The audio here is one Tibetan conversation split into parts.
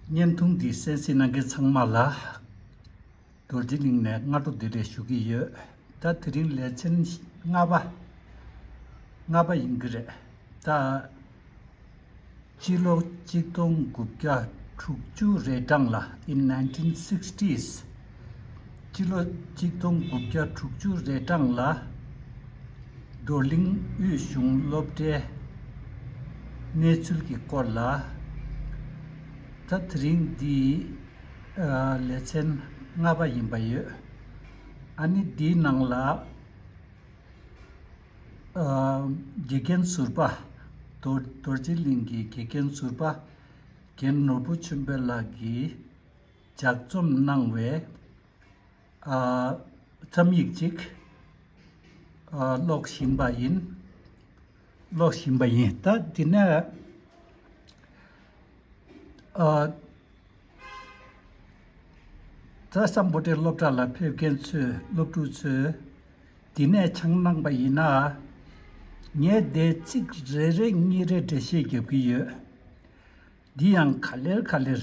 བརྙན་ཐུང་འདིའི་གསན་གཟིགས་གནང་མཁན་ཚང་མ་ལ་རྡོ་རྗེ་གླིང་ནས་སྔ་དྲོ་བདེ་ལེགས་ཞུ་གི་ཡོད་ད་དེ་རིང་ལས་ཚན་ལྔ་པ་ལྔ་པ་ཡིན་གྱི་རེད་ད། སྤྱི་ལོ་གཅིག་སྟོང་དགུ་བརྒྱ་དྲུག་ཅུ་རེ་གྲངས་ལ in nineteen sixties། སྤྱི་ལོ་གཅིག་སྟོང་དགུ་བརྒྱ་དྲུག་ཅུ་རེ་གྲངས་ལ་རྡོར་གླིང་དབུས་གཞུང་སློབ་གྲྭའི་གནས་ཚུལ་གྱི་སྐོར་ལ། ད་དེ་རིང་འདི་ལེ་ཚན་ལྔ་པ་ཡིན་པ་ཡོད། ཨ་ནི་འདིའི་ནང་ལ་དགེ་རྒན་ཟུར་པ་རྡོ་རྗེ་གླིང་གི་དགེ་རྒན་ཟུར་པ་རྒན་ནོར་བུ་ཆོས་འཕེལ་ལགས་ཀྱིས། ལྗགས་རྩོམ་གནང་བའི་རྩོམ་ཡིག་ཅིག་ཀློག་བཞིན་པ་ཡིན། ཀློག་བཞིན་པ་ཡིན། ད་འདི་ནས་རྩྭ་ས་མགོ་ཁྲིད་སློབ་གྲྭ་ལ་ཕེབས་མཁན་ཚོས་སློབ་ཕྲུག་ཚོས་འདི་ནས་འཆང་གནང་པ་ཡིན་ན། ངས་བརྡའི་ཚིག་རེ་རེ་གཉིས་རེ་འགྲེལ་བཤད་རྒྱབ་ཀྱི་ཡོད། འདི་ཡང་ག་ལེར་ག་ལེར།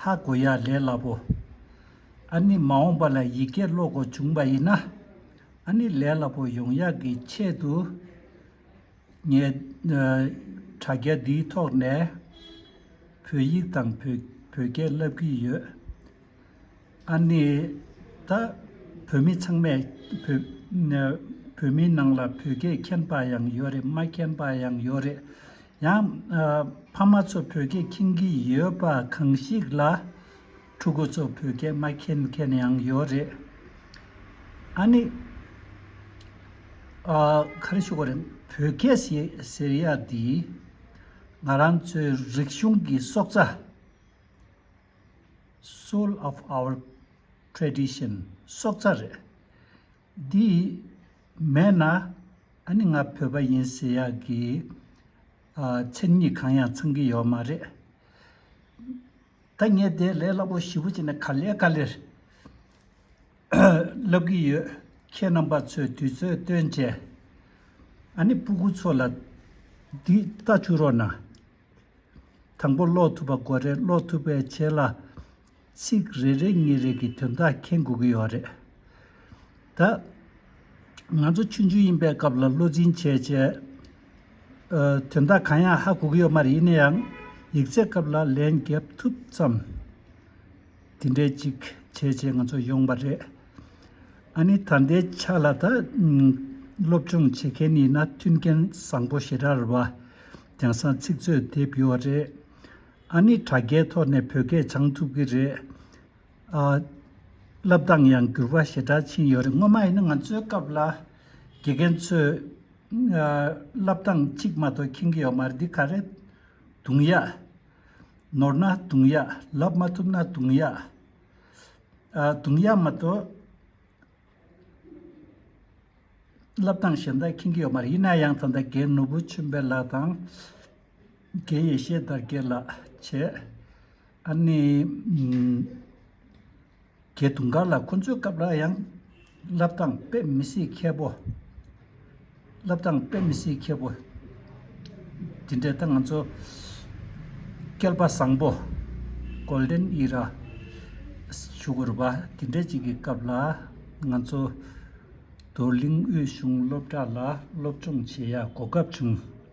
ཧ་གོ་ཡ་ལས་སླ་པོ། ཨ་ནི་མ་འོངས་པ་ལ་ཡི་གེ་ཀློག་གོ་བྱུང་བ་ཡིན་ན། ཨ་ནི་ལས་སླ་པོ་ཡོང་ཡག་གི་ཆེད་དུ། ངས་དྲ་རྒྱ་འདིའི་ཐོག་ནས་བོད་ཡིག་དང་བོད་སྐད་བསླབ་ཀྱི་ཡོད། ཨ་ནི་ད་བོད་མི་ཚང་མས་བོད་མིའི་ནང་ལ་བོད་སྐད་མཁྱེན་པ་ཡང་ཡོད་རེད་མ་མཁྱེན་པ་ཡང་ཡོད་རེད། ཡང། ཕ་མ་ཚོ་བོད་སྐད་མཁྱེན་གྱི་ཡོད་པ་གང་ཞིག་ལ། ཕྲུ་གུ་ཚོ་བོད་སྐད་མ་མཁྱེན་མཁན་ཡང་ཡོད་རེད། ཨ་ནི། ག་རེ་ཞུ་དགོས་རེད། བོད་སྐད་ཟེར་ཡ་འདི། ང་རང་ཚོའི་རིག་གཞུང་གི་སྲོག་རྩ། Soul of our Tradition། སྲོག་རྩ་རེད། འདི་མེད་ན་ཨ་ནི་ང་བོད་པ་ཡིན་ཟེར་ཡག་གི། མཚན་ཉིད་གང་ཡང་ཚང་གི་ཡོད་མ་རེད། ད་ངས་དེ་ལས་སླ་པོ་ཞིབ་པོ་བྱས་ནས་ག་ལེར་ག་ལེར་ལབ་གི་ཡོད། ཁྱེད་རྣམ་པ་ཚོས་དུས་ཚོད་སྟོན་བྱས། ཨ་ནི་སྤུ་གུ་ཚོ་ལ་འདི་ལྟ་བྱུ་རོགས་གནང། དང་པོ་ཀློག་ཐུབ་པ་དགོས་རེད་ཀློག་ཐུབ་པའི་ཆེད་ལ། ཚིག་རེ་རེ་ངེས་རེག་གི་དོན་དག་མཁྱེན་དགོས་ཀྱི་ཡོད་རེད། ད། ང་ཚོ་ཆུང་ཆུང་ཡིན་པའི་སྐབས་ལ་བློ་འཛིན་བྱས་བྱས། དོན་དག་གང་ཡང་ཧ་གོ་གི་ཡོད་མ་རེད་ཡིན་ན་ཡང་ཡིག་ཚད་སྐབས་ལ་ལན་བརྒྱབ་ཐུབ་ཙམ། དེ་འདྲའི་ཅིག་བྱས་བྱས་ང་ཚོ་ཡོང་བ་རེད། ཨ་ནི་ད་ལྟའི་ཆ་ལ་ད། སློབ་སྦྱོང་བྱེད་མཁན་ཡིན་ན་མཐུན་རྐྱེན་བཟང་པོ་ཞེ་དྲག་རེད་བ། རྒྱང་སྲང་ཚིག་མཛོད་དེབ་ཡོད་རེད། ཨ་ནི་དྲ་རྒྱའི་ཐོག་ནས་བོད་སྐད་སྦྱང་ཐུབ་ཀྱི་རེད། བསླབ་སྟངས་ཡང་འགྱུར་བ་ཞེ་དྲག་ཕྱིན་ཡོད་རེད། སྔོན་མ་ཡིན་ན་ང་ཚོའི་སྐབས་ལ་དགེ་རྒན་ཚོས་བསླབ་སྟངས་གཅིག་མ་གཏོགས་མཁྱེན་གྱི་ཡོད་མ་རེད། འདི་ག་རེད། དུང་ཡ། ནོར་ན་དུང་ཡ། ལབ་མ་ཐུབ་ན་དུང་ཡ། དུང་ཡ་མ་གཏོགས་བསླབ་སྟངས་གཞན་དག་མཁྱེན་གྱི་ཡོད་མ་རེད། ཡིན་ན་ཡང་ད་ལྟ་དགེ་བསྣུབས་བུ་ཆོས་འཕེལ་ལགས་དང། དགེ་ཡེ་ཤེས་དར་རྒྱས་ལགས་བྱས། ཨ་ནེ། གྱེས་དུང་དཀར་ལགས་ཁོ་ཚོའི་སྐབས་ལ་ཡང། བསླབ་སྟངས་དཔེ་མི་སྲིད་མཁས་པོ། བསླབ་སྟངས་དཔེ་མི་སྲིད་མཁས་པོ། དེ་འདྲའི་སྟངས་ང་ཚོ། སྐལ་པ་བཟང་པོ། Golden Era། ཞུ་དགོས་རུ་བ་དེ་འདྲའི་ཅིག་གི་སྐབས་ལ། ང་ཚོ། རྡོར་གླིང་དབུས་གཞུང་སློབ་གྲྭ་ལ་སློབ་སྦྱོང་བྱེད་ཡ་གོ་སྐབས་བྱུང།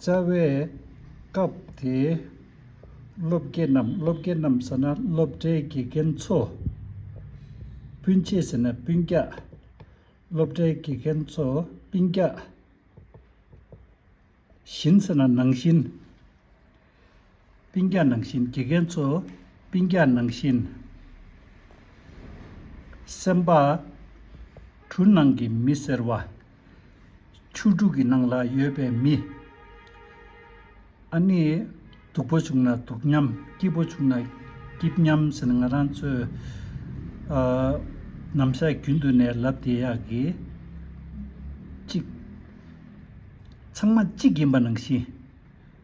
རྩ་བའི་སྐབས་དེའི་སློབ་དགེ་རྣམས་སློབ་དགེ་རྣམས་ཟེར་ན་སློབ་གྲྭའི་དགེ་རྒན་ཚོ། སྤུན་མཆེད་ཟེར་ན་སྤུན་རྒྱགས། སློབ་གྲྭའི་དགེ་རྒན་ཚོ་སྤུན་རྒྱགས། བཞིན་ཟེར་ན་ནང་བཞིན། སྤིན་རྒྱག་ནང་བཞིན་དགེ་རྒན་ཚོ། སྤིན་རྒྱག་ནང་བཞིན། སེམས་པ། གྲུ་ནང་གི་མི་ཟེར་བ། ཆུ་དྲུག་གི་ནང་ལ་ཡོད་པའི་མི། ཨ་ནི། སྡུག་པོ་བྱུང་ན་སྡུག་མཉམ། སྐྱིད་པོ་བྱུང་ན་སྐྱིད་མཉམ་ཟེར་ན་ང་རང་ཚོས། ནམ་ཞག་རྒྱུན་དུ་ནས་ལབ་བསྡད་ཡག་གི། གཅིག། ཚང་མ་གཅིག་ཡིན་པ་ནང་བཞིན།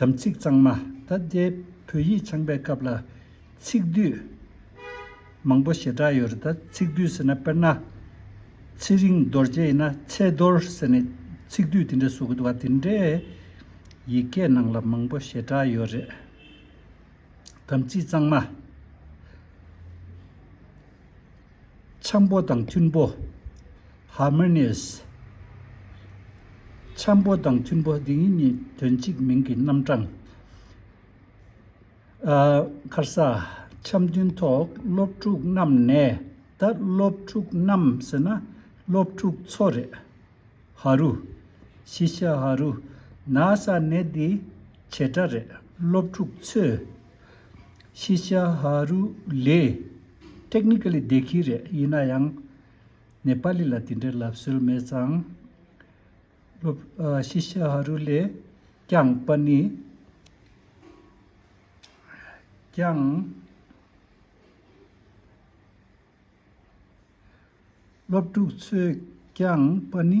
དམ་ཚིག་གཙང་མ་ད་ལྟའི་བོད་ཡིག་ཚང་པའི་སྐབས་ལ་ཚིག་བསྡུས་མང་པོ་ཞེ་དྲག་ཡོད་རེད་ད་ཚིག་བསྡུས་ཟེར་ན་དཔེར་ན། ཚེ་རིང་རྡོ་རྗེ་ཡིན་ན་ཚེ་རྡོར་ཟེར་ནས་ཚིག་བསྡུས་དེ་འདྲ་བཟོ་གི་འདུག་བ་དེ་འདྲའི་ཡིག་སྐད་ནང་ལ་མང་པོ་ཞེ་དྲག་ཡོད་རེད། དམ་ཚིག་གཙང་མ། འཆམ་པོ་དང་མཐུན་པོ། Harmonious། འཆམ་པོ་དང་མཐུན་པོ་འདི་གཉིས་དོན་གཅིག་མིང་གི་རྣམ་གྲངས། ཁར་ས། འཆམ་མཐུན་ཐོག་སློབ་ཕྲུག་རྣམས་ནས་ད་སློབ་ཕྲུག་རྣམས་ཟེར་ན་སློབ་ཕྲུག་ཚོ་རེད། ཧ་རུ། ཤི་ཤ་ཧ་རུ། ན་ས་ནས་འདི་བྱེ་བྲག་རེད་སློབ་ཕྲུག་ཚོས། ཤི་ཤ་ཧ་རུ་ལས། Technically བདེ་སྐྱིད་རེད་ཡིན་ན་ཡང། ནེ་པ་ལི་ལ་དེ་འདྲའི་ལབ་སྲོལ་མེད་ཙང། སློབ། ཤི་ཤ་ཧ་རུ་ལས། ཀྱང་པ་ནི། ཀྱང། སློབ་ཕྲུག་ཚོས་ཀྱང་པ་ནི།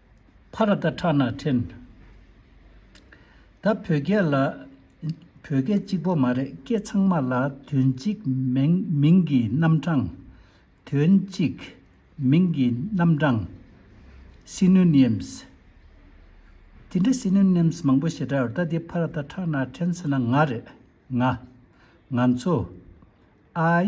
བྷ་ར་ཏཱ་ཁྲ་ན་ཁྲེན། ད་བོད་སྐད་ལ། བོད་སྐད་གཅིག་པོ་མ་རེད་སྐད་ཚང་མ་ལ་དོན་གཅིག་མིང་གི་རྣམ་གྲངས། དོན་གཅིག། མིང་གི་རྣམ་གྲངས། Synonyms། དེ་འདྲ Synonyms མང་པོ་ཞེ་དྲག་ཡོད་ད་དེ་བྷ་ར་ཏཱ་ཁྲ་ན་ཁྲེན་ཟེར་ན་ང་རེད། ང། ང་ཚོ། I།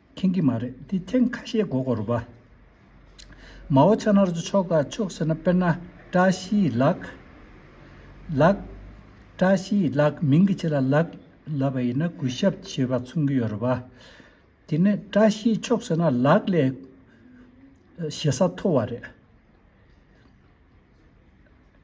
མཁྱེན་གྱི་མ་རེད་དེ་ཐེངས་ཁ་ཤས་གོ་གོར་བ། མའོ་ཆ་ནར་ཟུ་ཆོག་ག་ཆོག་ཟེར་ན་དཔེར་ན་བཀྲ་ཤིས་ལགས། ལགས། བཀྲ་ཤིས་ལགས་མིང་གི་ཕྱི་ལ་ལགས་ལབ་པ་ཡིན་ན་གུས་ཞབས་ཞེས་པ་མཚུངས་ཀྱི་ཡོད་རེད་བ། དེ་ནས་བཀྲ་ཤིས་ཆོག་ཟེར་ན་ལགས་ལས་ཞེ་ས་མཐོ་བ་རེད།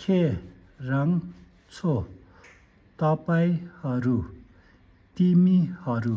ཁྱེད་རང་ཚོ་ད་པའི་ཧ་རུ་ཏི་མི་ཧ་རུ།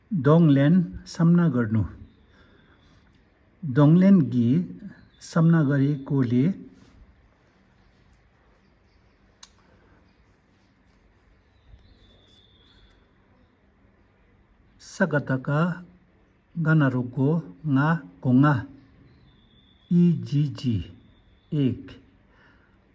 གདོང་ལེན་བསམ་ན་གར་ནུ། གདོང་ལེན་གྱིས་བསམ་ན་གར་ཡི་སྐོར་ལས། ས་ག་ད་ག་ག་ན་རོ་གོ་ང་གོ་ང། ཨི་ཇི་ཇི་ཨེག།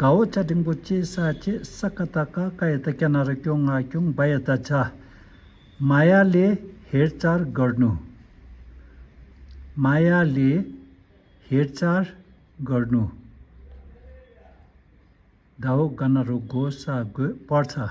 གའོ་བཅའ་ཀྲིན་པོ་ཆེའི་ས་བཅད་ས་ཀ་ད་ཀ་ཀ་ཡ་ད་ཀྱ་ན་ར་ཀྱོ་ང་ཀྱུང་བ་ཡ་ད་བྱ། མ་ཡ་ལེ་ཧེར་ཅར་གར་ནུ། མ་ཡ་ལེ་ཧེར་ཅར་གར་ནུ། གའོ་ག་ན་རུ་གོ་ས་གོས་པར་ཚ།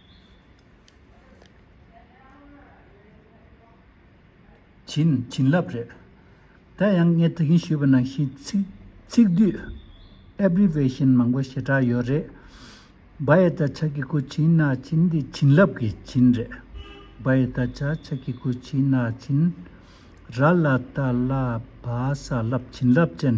བྱིན། བྱིན་རླབས་རེད། ད་ཡང་ངས་དེ་གིན་ཞུས་པ་ནང་བཞིན་ཚིག། ཚིག་སྡུད། Abbreviation། མང་པོ་ཞེ་དྲག་ཡོད་རེད། བ་ཡེ་ད་ཆ་གི་གུ་བྱིན་ན་བྱིན་འདི་བྱིན་རླབས་ཀྱི་བྱིན་རེད། བ་ཡེ་ད་ཆ་ཆ་གི་གུ་བྱིན་ན་བྱིན། ར་ལ་ད་ལ་བ་ས་ལབ་བྱིན་རླབས་ཅན།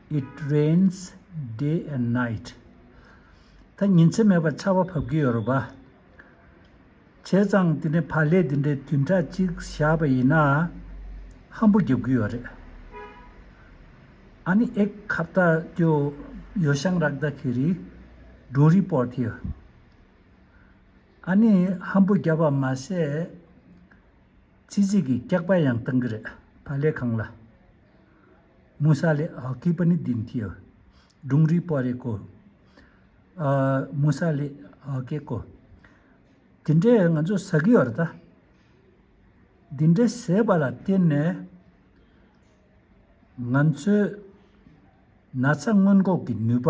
It rains day and night ད་ཉིན་མཚན་མེད་པར་ཆར་བ་བབས་ཀྱི་ཡོད་རེད་པ། བྱས་ཙང་དེ་ནས་ཕ་ལས་དེ་འདྲའི་དུས་འཁྲ་གཅིག་བཞག་པ་ཡིན་ན། ཧམ་པོ་རྒྱབ་ཀྱི་ཡོད་རེད། ཨ་ནི་ཨེ་ཁ་བཏ་ཀྱོ་ཡོ་ཤང་རག་ད་ཁི་རི་སྒྲུང་རི་པོར་ཐི། ཨ་ནི་ཧམ་པོ་རྒྱབ་པ་མ་ཟད། ཚིག་རྩིས་ཀྱི་སྐྱག་པ་ཡང་བཏང་གི་རེད་ཕ་ལས་ཁང་ལ། མུ་ས་ལེ་ཨཱ་ཀི་པ་ནི་དིན་ཏིའོ། སྒྲུང་རིགས་པོ་རེ་ཀོ། མུ་ས་ལེ་ཨཱ་ཀེ་ཀོ། དེ་འདྲས་ང་ཚོ་ཟ་གི་ཡོད་རེད་ད། དེ་འདྲས་ཟས་པ་ལ་བརྟེན་ནས། ང་ཚོའི་ན་ཚ་སྔོན་འགོག་གི་ནུས་པ།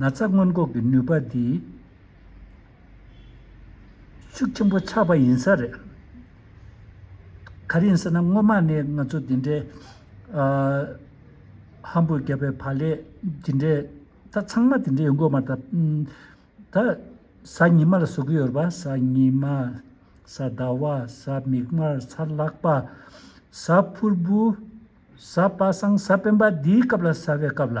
ན་ཚ་སྔོན་འགོག་གི་ནུས་པ་འདི་ཤུགས་ཆེན་པོ་ཆགས་པ་ཡིན་ས་རེད། ག་རེ་ཡིན་ཟེར་ན་སྔོན་མ་ནས་ང་ཚོ་འདི་འདྲའི་ཧམ་འབུད་བརྒྱབ་པའི་བར་ལས་འདི་འདྲའི་ད་ཚང་མ་དེ་འདྲ་ཡོང་གི་མ་རེད། ད་གཟའ་ཉི་མ་ལ་བཟོ་གི་ཡོད་པ་གཟའ་ཉི་མ་གཟའ་ཟླ་བ་གཟའ་མིག་དམར་གཟའ་ལག་པ་གཟའ་ཕུར་བུ་གཟའ་པ་སངས་གཟའ་སྤེན་པ་འདིའི་སྐབས་ལ་ཟ་བའི་སྐབས་ལ།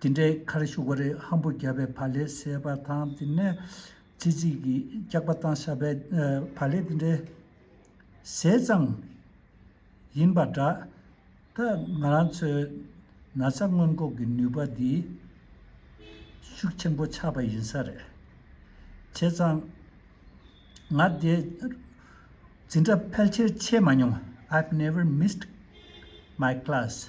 དེ་འདྲའི་ཁར་ཤུག་པ་རེ་ཧམ་པོ་བརྒྱབ་པའི་བ་ལས་སད་པ་དང་དེ་ནས་ཙི་ཙི་གིས་སྐྱག་པ་བཏང་ཤག་པའི་བ་ལས་དེ་འདྲའི་ཟས་གཙང་ཡིན་པ་འདྲ། ད་ང་རང་ཚོའི་ན་ཚ་སྔོན་འགོག་གི་ནུས་པ་འདི་ཤུགས་ཆེན་པོ་ཆགས་པ་ཡིན་ས་རེད། བྱས་ཙང་ང་དེ་འཛིན་གྲྭ་ཕལ་ཆེར་ཆད་མ་མྱོང I've never missed my class།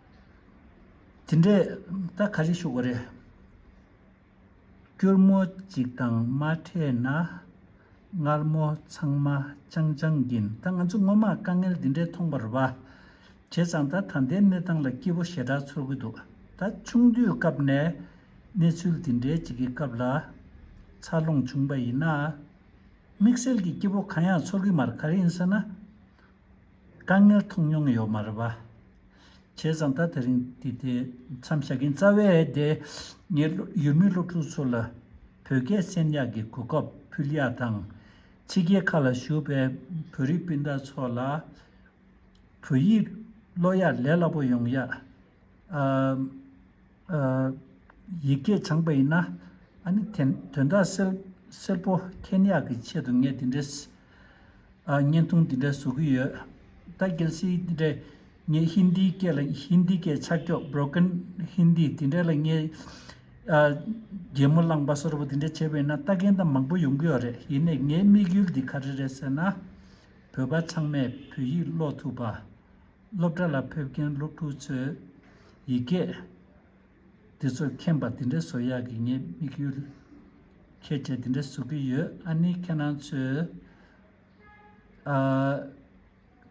དེ་འདྲས་ད་ག་རེ་ཞུགས་པ་རེད། སྐྱུར་མོ་གཅིག་དང་མ་འཕྲད་ན་མངར་མོ་ཚང་མ་ཅང་ཅང་གིན་ད་ང་ཚོ་སྔོན་མ་དཀའ་ངལ་དེ་འདྲས་མཐོང་བར་བ་བྱས་ཙང་ད་ད་ལྟའི་གནས་སྟངས་ལ་སྐྱིད་པོ་ཞེ་དྲག་ཚོར་གི་འདུག་ད་ཆུང་དུས་སྐབས་ནས་གནས་ཚུལ་དེ་འདྲས་ཅིག་གི་སྐབས་ལ་འཚར་ལོངས་བྱུང་བ་ཡིན་ན། དམིགས་བསལ་གྱི་སྐྱིད་པོ་གང་ཡང་ཚོར་གི་མར་ག་རེ་ཡིན་ཟེར་ན། དཀའ་ངལ་མཐོང་མྱོང་ཡོད་མ་རེད་བ། བྱས་ཙང་ད་དེ་རིང་དེ་དེ་མཚམས་བཞག་གིན་རྩ་བའི་དེ་ངས་ཡུལ་མི་སློབ་ཕྲུག་ཚོ་ལ་བོད་སྐད་གསན་ཡག་གི་གོ་སྐབས་ཕུལ་ཡག་དང། ཕྱི་རྒྱལ་ཁག་ལ་བཞུགས་པའི་བོད་རིགས་སྤུན་ཟླ་ཚོ་ལ་བོད་ཡིག་སློབ་ཡག་ལས་སླ་པོ་ཡོང་ཡག། ཡིག་སྐད་སྦྱངས་པ་ཡིན་ན། དོན་དག་སེར་པོ་ཁྱེད་ཉག་གི་ཆེད་དུ་ངས་འདི་འདྲའི་བརྙན་ཐུང་འདི་འདྲ་བཟོ་གི་ཡོད། ད་གལ་སྲིད་འདི་འདྲའི་ངའི་ཧིན་དིའི་སྐད་ལ་ཧིན་དིའི་སྐད་ཆག་ཀྱོག Broken Hindi དེ་འདྲ་ལ་ངས་རྒྱལ་མོ་བླངས་པ་སོར་པོ་དེ་འདྲ་བྱས་པ་ཡིན་ན་ལྟ་མཁན་དང་མང་པོ་ཡོང་གི་ཡོད་རེད་ཡིན་ནས་ངའི་དམིགས་ཡུལ་འདི་ག་རེ་རེད་ཟེར་ན། བོད་པ་ཚང་མས་བོད་ཡིག་ཀློག་ཐུབ་པ། སློབ་གྲྭ་ལ་ཕེབས་མཁན་སློབ་ཕྲུག་ཚོས་ཡིག་སྐད་འདི་ཚོ་མཁྱེན་པ་འདི་འདྲ་བཟོ་ཡག་གི་ངས་དམིགས་ཡུལ་ཁྱད་འབྱེད་འདི་འདྲ་བཟོ་གི་ཡོད་ཨ་ནི་ཁྱེད་རང་ཚོས་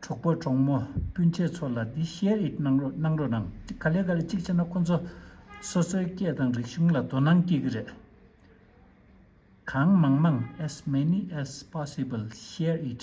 གྲོགས་པོ་གྲོགས་མོ་སྤུན་མཆེད་ཚོ་ལ་འདི share it གནང་རོགས་གནང་རོགས་གནང་ག་ལེ་ག་ལེ་གཅིག་བྱས་ན་ཁོ་ཚོ་སོ་སོའི་སྐད་དང་རིག་གཞུང་ལ་དོ་སྣང་སྐྱེ་གི་རེད་གང་མང་མང as many as possible share it།